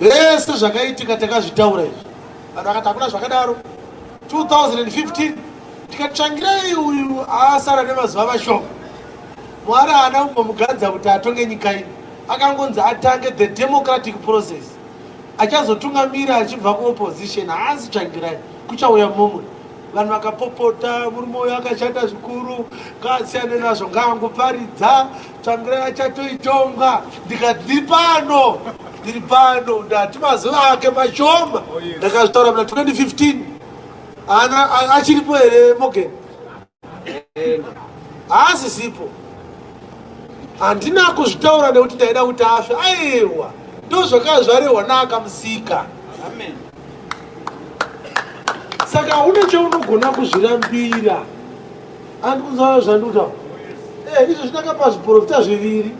Zvese zvakaitika takazvitaura izvi. Vanhu vakati hakuna zvakadaro. 2015 tikati tsvangirai uyu asara nemazuva mashoma. Mwari haana kumbomugadza kuti atonge nyika ino. Akangonzi atange the democratic process. Achazotungamira achibva kuopposition haasi tsvangirai kuchauya mumwe. Vanhu vakapopota murume uyo akashata zvikuru ngasiyane nazvo ngangoparidza Tsvangirai achatoitonga ndikati ndiri pano ndiri pano ndati mazuva ake mashoma oh, ndakazvitaura muna 2015 ana achiripo here mogen haasisipo handina kuzvitaura nekuti ndaida kuti afe aiwa ndozvakava zvarehwa naakamusika saka une cheunogona kuzvirambira Handi kunzwa zvanduta. Eh, izvo zvinakapa zviporofita zviviri.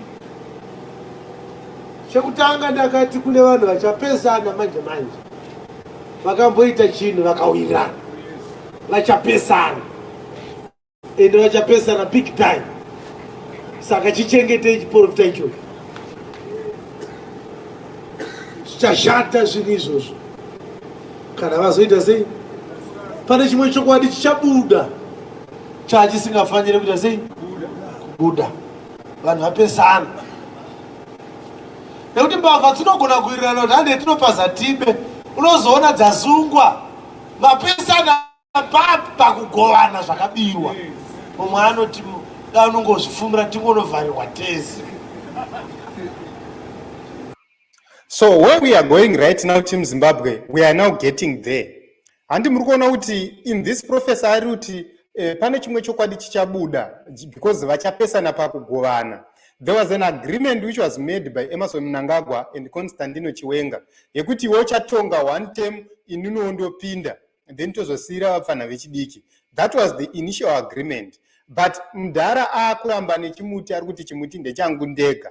Chekutanga ndakati kune vanhu vachapesana manje manje. Vakamboita chinhu vakawirana. Vachapesana. Ende vachapesana big time. Saka chichengetei chiporofita ichocho. Zvichashata zvinhu izvozvo. Kana vazoita sei? Pane chimwe chokwadi chichabuda chachisingafanire kuita sei? Kubuda. Vanhu vapesana. Nekuti mbavha dzinogona kuwirirana kuti hande tinopaza tibe. Unozoona dzasungwa mapesana pakugovana zvakabirwa. Mumwe anoti da unongozvifumira tingonovharirwa tese. so where we are going right now team zimbabwe we are now getting there handi muri kuona kuti in this professor ari kuti eh, pane chimwe chokwadi chichabuda because vachapesana pakugovana there was an agreement which was made by emerson mnangagwa and constantino chiwenga yekuti iwe uchatonga one term ininiwo ndopinda then tozosiyira vapfanha vechidiki that was the initial agreement but mdhara akuramba nechimuti ari kuti chimuti ndechangu ndega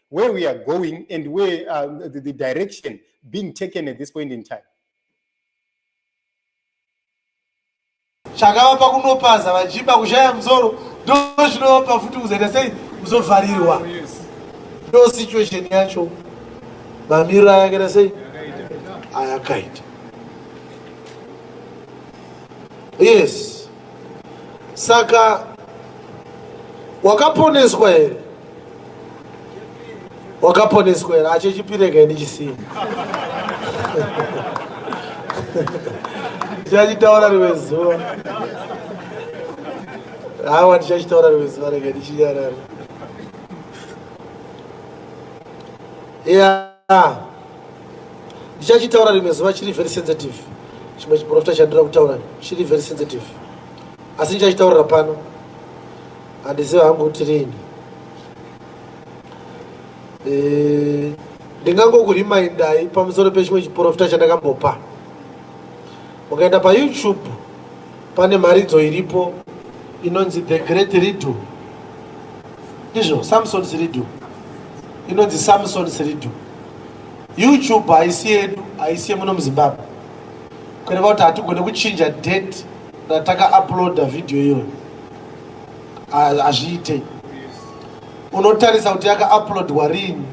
where we are going and where uh, the, the direction being taken at this point in time chakavapa kunopaza vachipa kushaya mzoro ndo zvinovapa futi kuzoita sei kuzovharirwa oh, ndo situation yacho mamiriro ayakaita sei ayakaita yes Saka wakaponeswa here? Wakaponeswa here? Ache chipireka ini chisiya. Ndichachitaura rimwe zuva. Hawa ndichachitaura rimwe zuva rega ndichinyarara. Yeah. ah, ndichachitaura rimwe zuva chiri very sensitive chimwe chiprofita chandira kutaura chiri very sensitive asi ndichachitaurira pano handiziva hangu kuti rini eh, ndingangokurimindai pamusoro pechimwe chiprofita chandakambopa Mukaenda pa YouTube pane mharidzo iripo inonzi the great redo ndizvo samson's redo inonzi samson's redo youtube haisi yedu haisi yemuno muzimbabwe kureva kuti hatigone kuchinja date rataka uploada video iyoyo hazviite unotarisa kuti yaka uploadwa riini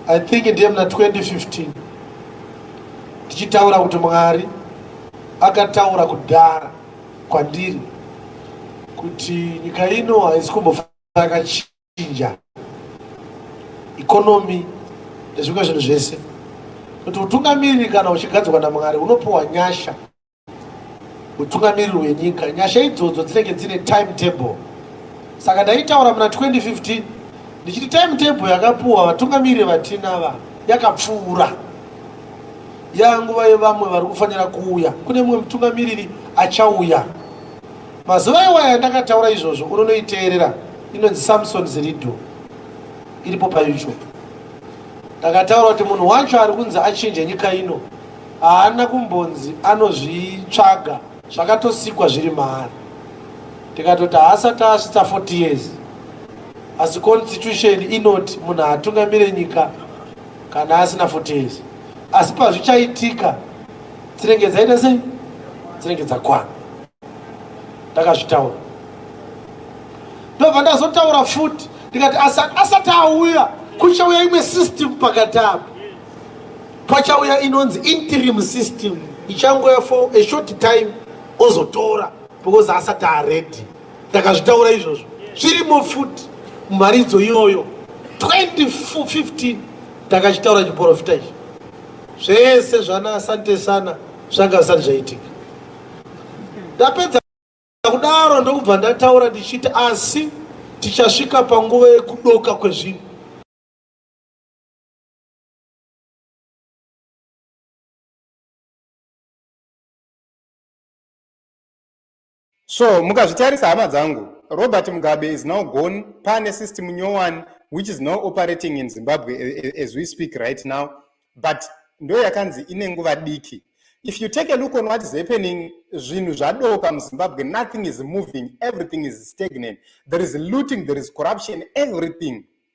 i think ndiye muna 2015 tichitaura kuti Mwari akataura kudhara kwandiri kuti nyika ino haisi kumbofa yakachinja ikonomi nezvimwe zvinhu zvese kuti utungamiriri kana uchigadzwa namwari unopiwa nyasha mutungamiriri wenyika nyasha idzodzo dzinenge dzine time table saka ndaitaura muna 2015 ndichiti time table yakapuwa vatungamiriri vatina va yakapfuura yanguva yevamwe vari kufanira kuuya kune mumwe mutungamiriri achauya mazuva iwaya ndakataura izvozvo unonoiteerera inonzi samson zirido iripo payoutube ndakataura kuti munhu wacho ari kunzi achinje nyika ino haana kumbonzi anozvitsvaga zvakatosikwa zviri maari tikatoti haasati asvitsa 40 years asi constitution inoti munhu haatungamire nyika kana asina 40 years asi pazvichaitika dzinenge dzaita sei dzinenge dzakwana ndakazvitaura ndobva ndazotaura futi ndikati asati auya kuchauya imwe system pakati apo pachauya inonzi interim system ichangouya for a short time ozotora because asati aready takazvitaura izvozvo zvirimo futi mumharidzo iyoyo 2015 takachitaura chiporofita ichi zvese zvana asante sana zvanga zvisati zvaitika ndapedza kudaro ndokubva ndataura ndichiti asi tichasvika panguva yekudoka kwezvinhu so mukazvitarisa hama dzangu robert mugabe is now gone pane system nyowani which is now operating in zimbabwe eh, eh, as we speak right now but ndo yakanzi ine nguva diki if you take a look on what is happening zvinhu zvadoka muzimbabwe nothing is moving everything is stagnant there is looting there is corruption everything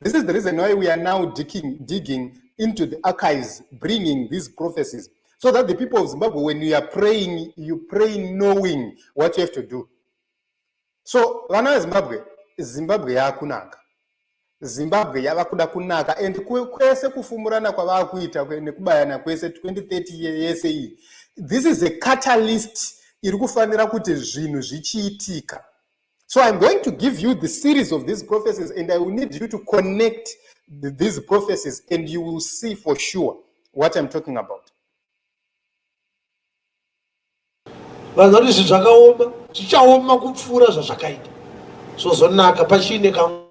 This is the reason why we are now digging, digging into the archives, bringing these prophecies, so that the people of Zimbabwe, when you are praying, you pray knowing what you have to do. So, vana Zimbabwe, Zimbabwe yakunaka. Zimbabwe yava kuda kunaka and kwese kufumurana kwavava kuita nekubayana kwese 2030 yese iyi. This is a catalyst iri kufanira kuti zvinhu zvichiitika. So I'm going to give you the series of these prophecies and I will need you to connect the, these prophecies and you will see for sure what I'm talking about. vanhu vanoti zvinhu zvakaoma zvichaoma kupfuura zvazvakaita zvozonaka pachiine kamwe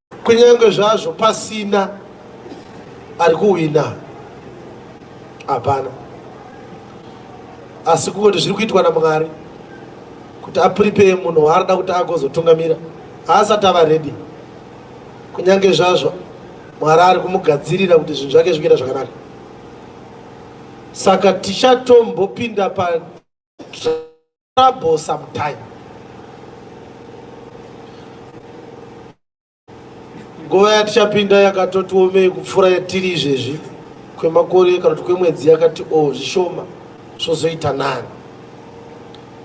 Kunyange zvazvo pasina ari kuwina, hapana. Asi kungoti zviri kuitwa naMwari kuti apuripeye munhu waanoda kuti agozotungamira, haasati ava redi. Kunyange zvazvo Mwari ari kumugadzirira kuti zvinhu zvake zvikuita zvakanaka. Saka tichatombopinda pa trouble sometime nguva yatichapinda yakatoti omei kupfuura yatiri izvezvi kwemakore kana kuti kwemwedzi yakati o oh, zvishoma zvozoita nani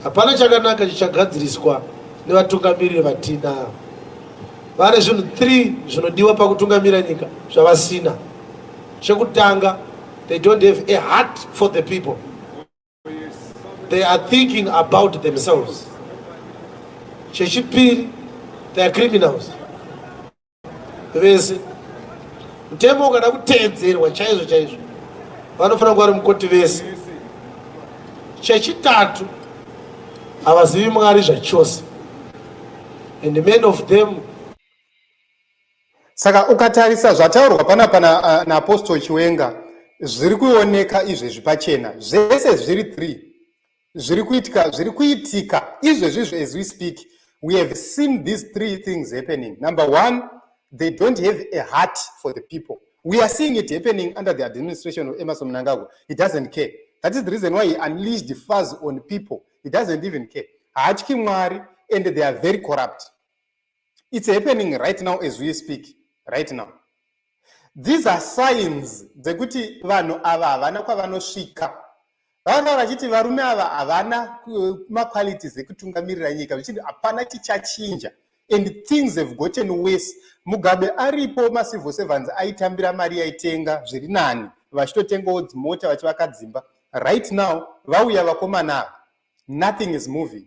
hapana chakanaka chichagadziriswa nevatungamiriri vatinavo vane zvinhu three zvinodiwa pakutungamira nyika zvavasina chekutanga they don't have a heart for the people they are thinking about themselves chechipiri they are criminals vese mutemo ukada kuteedzerwa chaizvo chaizvo vanofanira kuva ri mukoti vese chechitatu havazivi mwari zvachose and many of them Saka ukatarisa zvataurwa panapa naApostle na Chiwenga zviri kuoneka izvezvi pachena zvese zviri three zviri kuitika zviri kuitika izvezvizvo as we speak we have seen these three things happening number one they don't have a heart for the people we are seeing it happening under the administration of emerson mnangagwa he doesn't care that is the reason why he unleashed the fuzz on people he doesn't even care haatyi mwari and they are very corrupt It's happening right now as we speak right now. These are signs dzekuti vanhu ava havana kwavanosvika. Vavanga vachiti varume ava havana eh, maqualities ekutungamirira nyika vachiti hapana chichachinja and things have gotten worse. Mugabe aripo macivil servants aitambira mari yaitenga zviri nani vachitotengawo dzimota vachivaka dzimba. Right now vauya vakomana ava nothing is moving.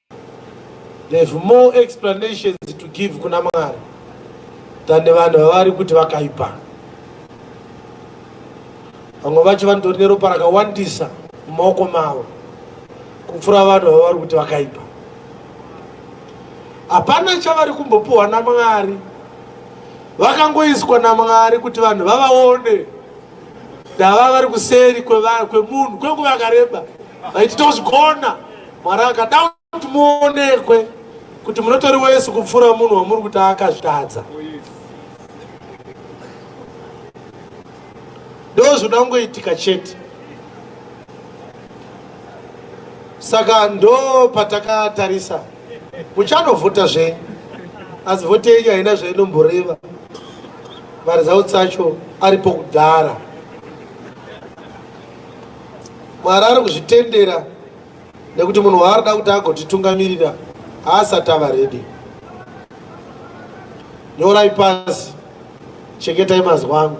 They have more explanations to give kuna Mwari than vanhu vavari kuti vakaipa. Vamwe vacho vanotori neropa rakawandisa mumaoko mavo kupfuura vanhu vavari kuti vakaipa. Hapana chavari kumbopiwa naMwari, vakangoiswa naMwari kuti vanhu vavaone ndava vari kuseri kwemunhu kwenguva yakareba. Vaiti tozvigona Mwari akada kuti muonekwe kuti munotori wese kupfuura munhu wamuri kuti akazvitadza. Ndozvoda kungoitika chete. Saka ndo patakatarisa muchanovhota zve asi vhoti yenyu haina zvainomboreva maresults acho aripo kudhara Mwari ari kuzvitendera nekuti munhu waarida kuti agotitungamirira haasati ava redi. Nyorai pasi, chengetai mazwi angu.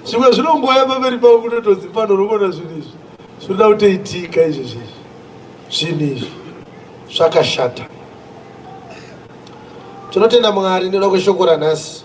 Zvimwe zvinongoya pamberi pavo kutotonzi pano unogona zvinhu izvi zvinoda kutoitika izvi zvinhu zvinhu izvi zvakashata. Tinotenda Mwari nekuda kweshoko ranhasi.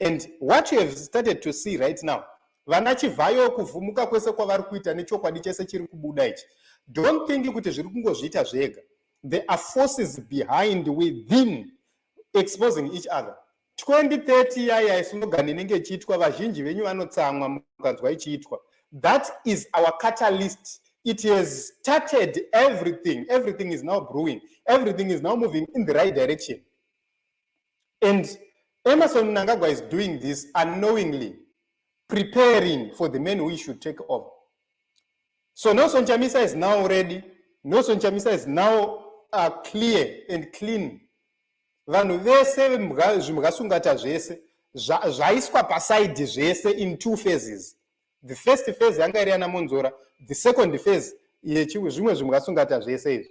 and what you have started to see right now vana chivhayo kuvhumuka kwese kwavari kuita nechokwadi chese chiri kubuda ichi don't think kuti zviri kungozviita zvega there are forces behind within exposing each other 2030 yaya islogan inenge ichiitwa vazhinji venyu vanotsamwa mukanzwa ichiitwa that is our catalyst it has started everything everything is now brewing everything is now moving in the right direction And Emerson Mnangagwa is doing this unknowingly, preparing for the men who should take over. So Nelson Chamisa is now ready. Nelson Chamisa is now uh, clear and clean. Vanhu vese zvimhasungata zvese zvaiswa pasaidi zvese in two phases. The first phase yanga iri yana Monzora, the second phase yechizvimwe zvimhasungata zvese izvi.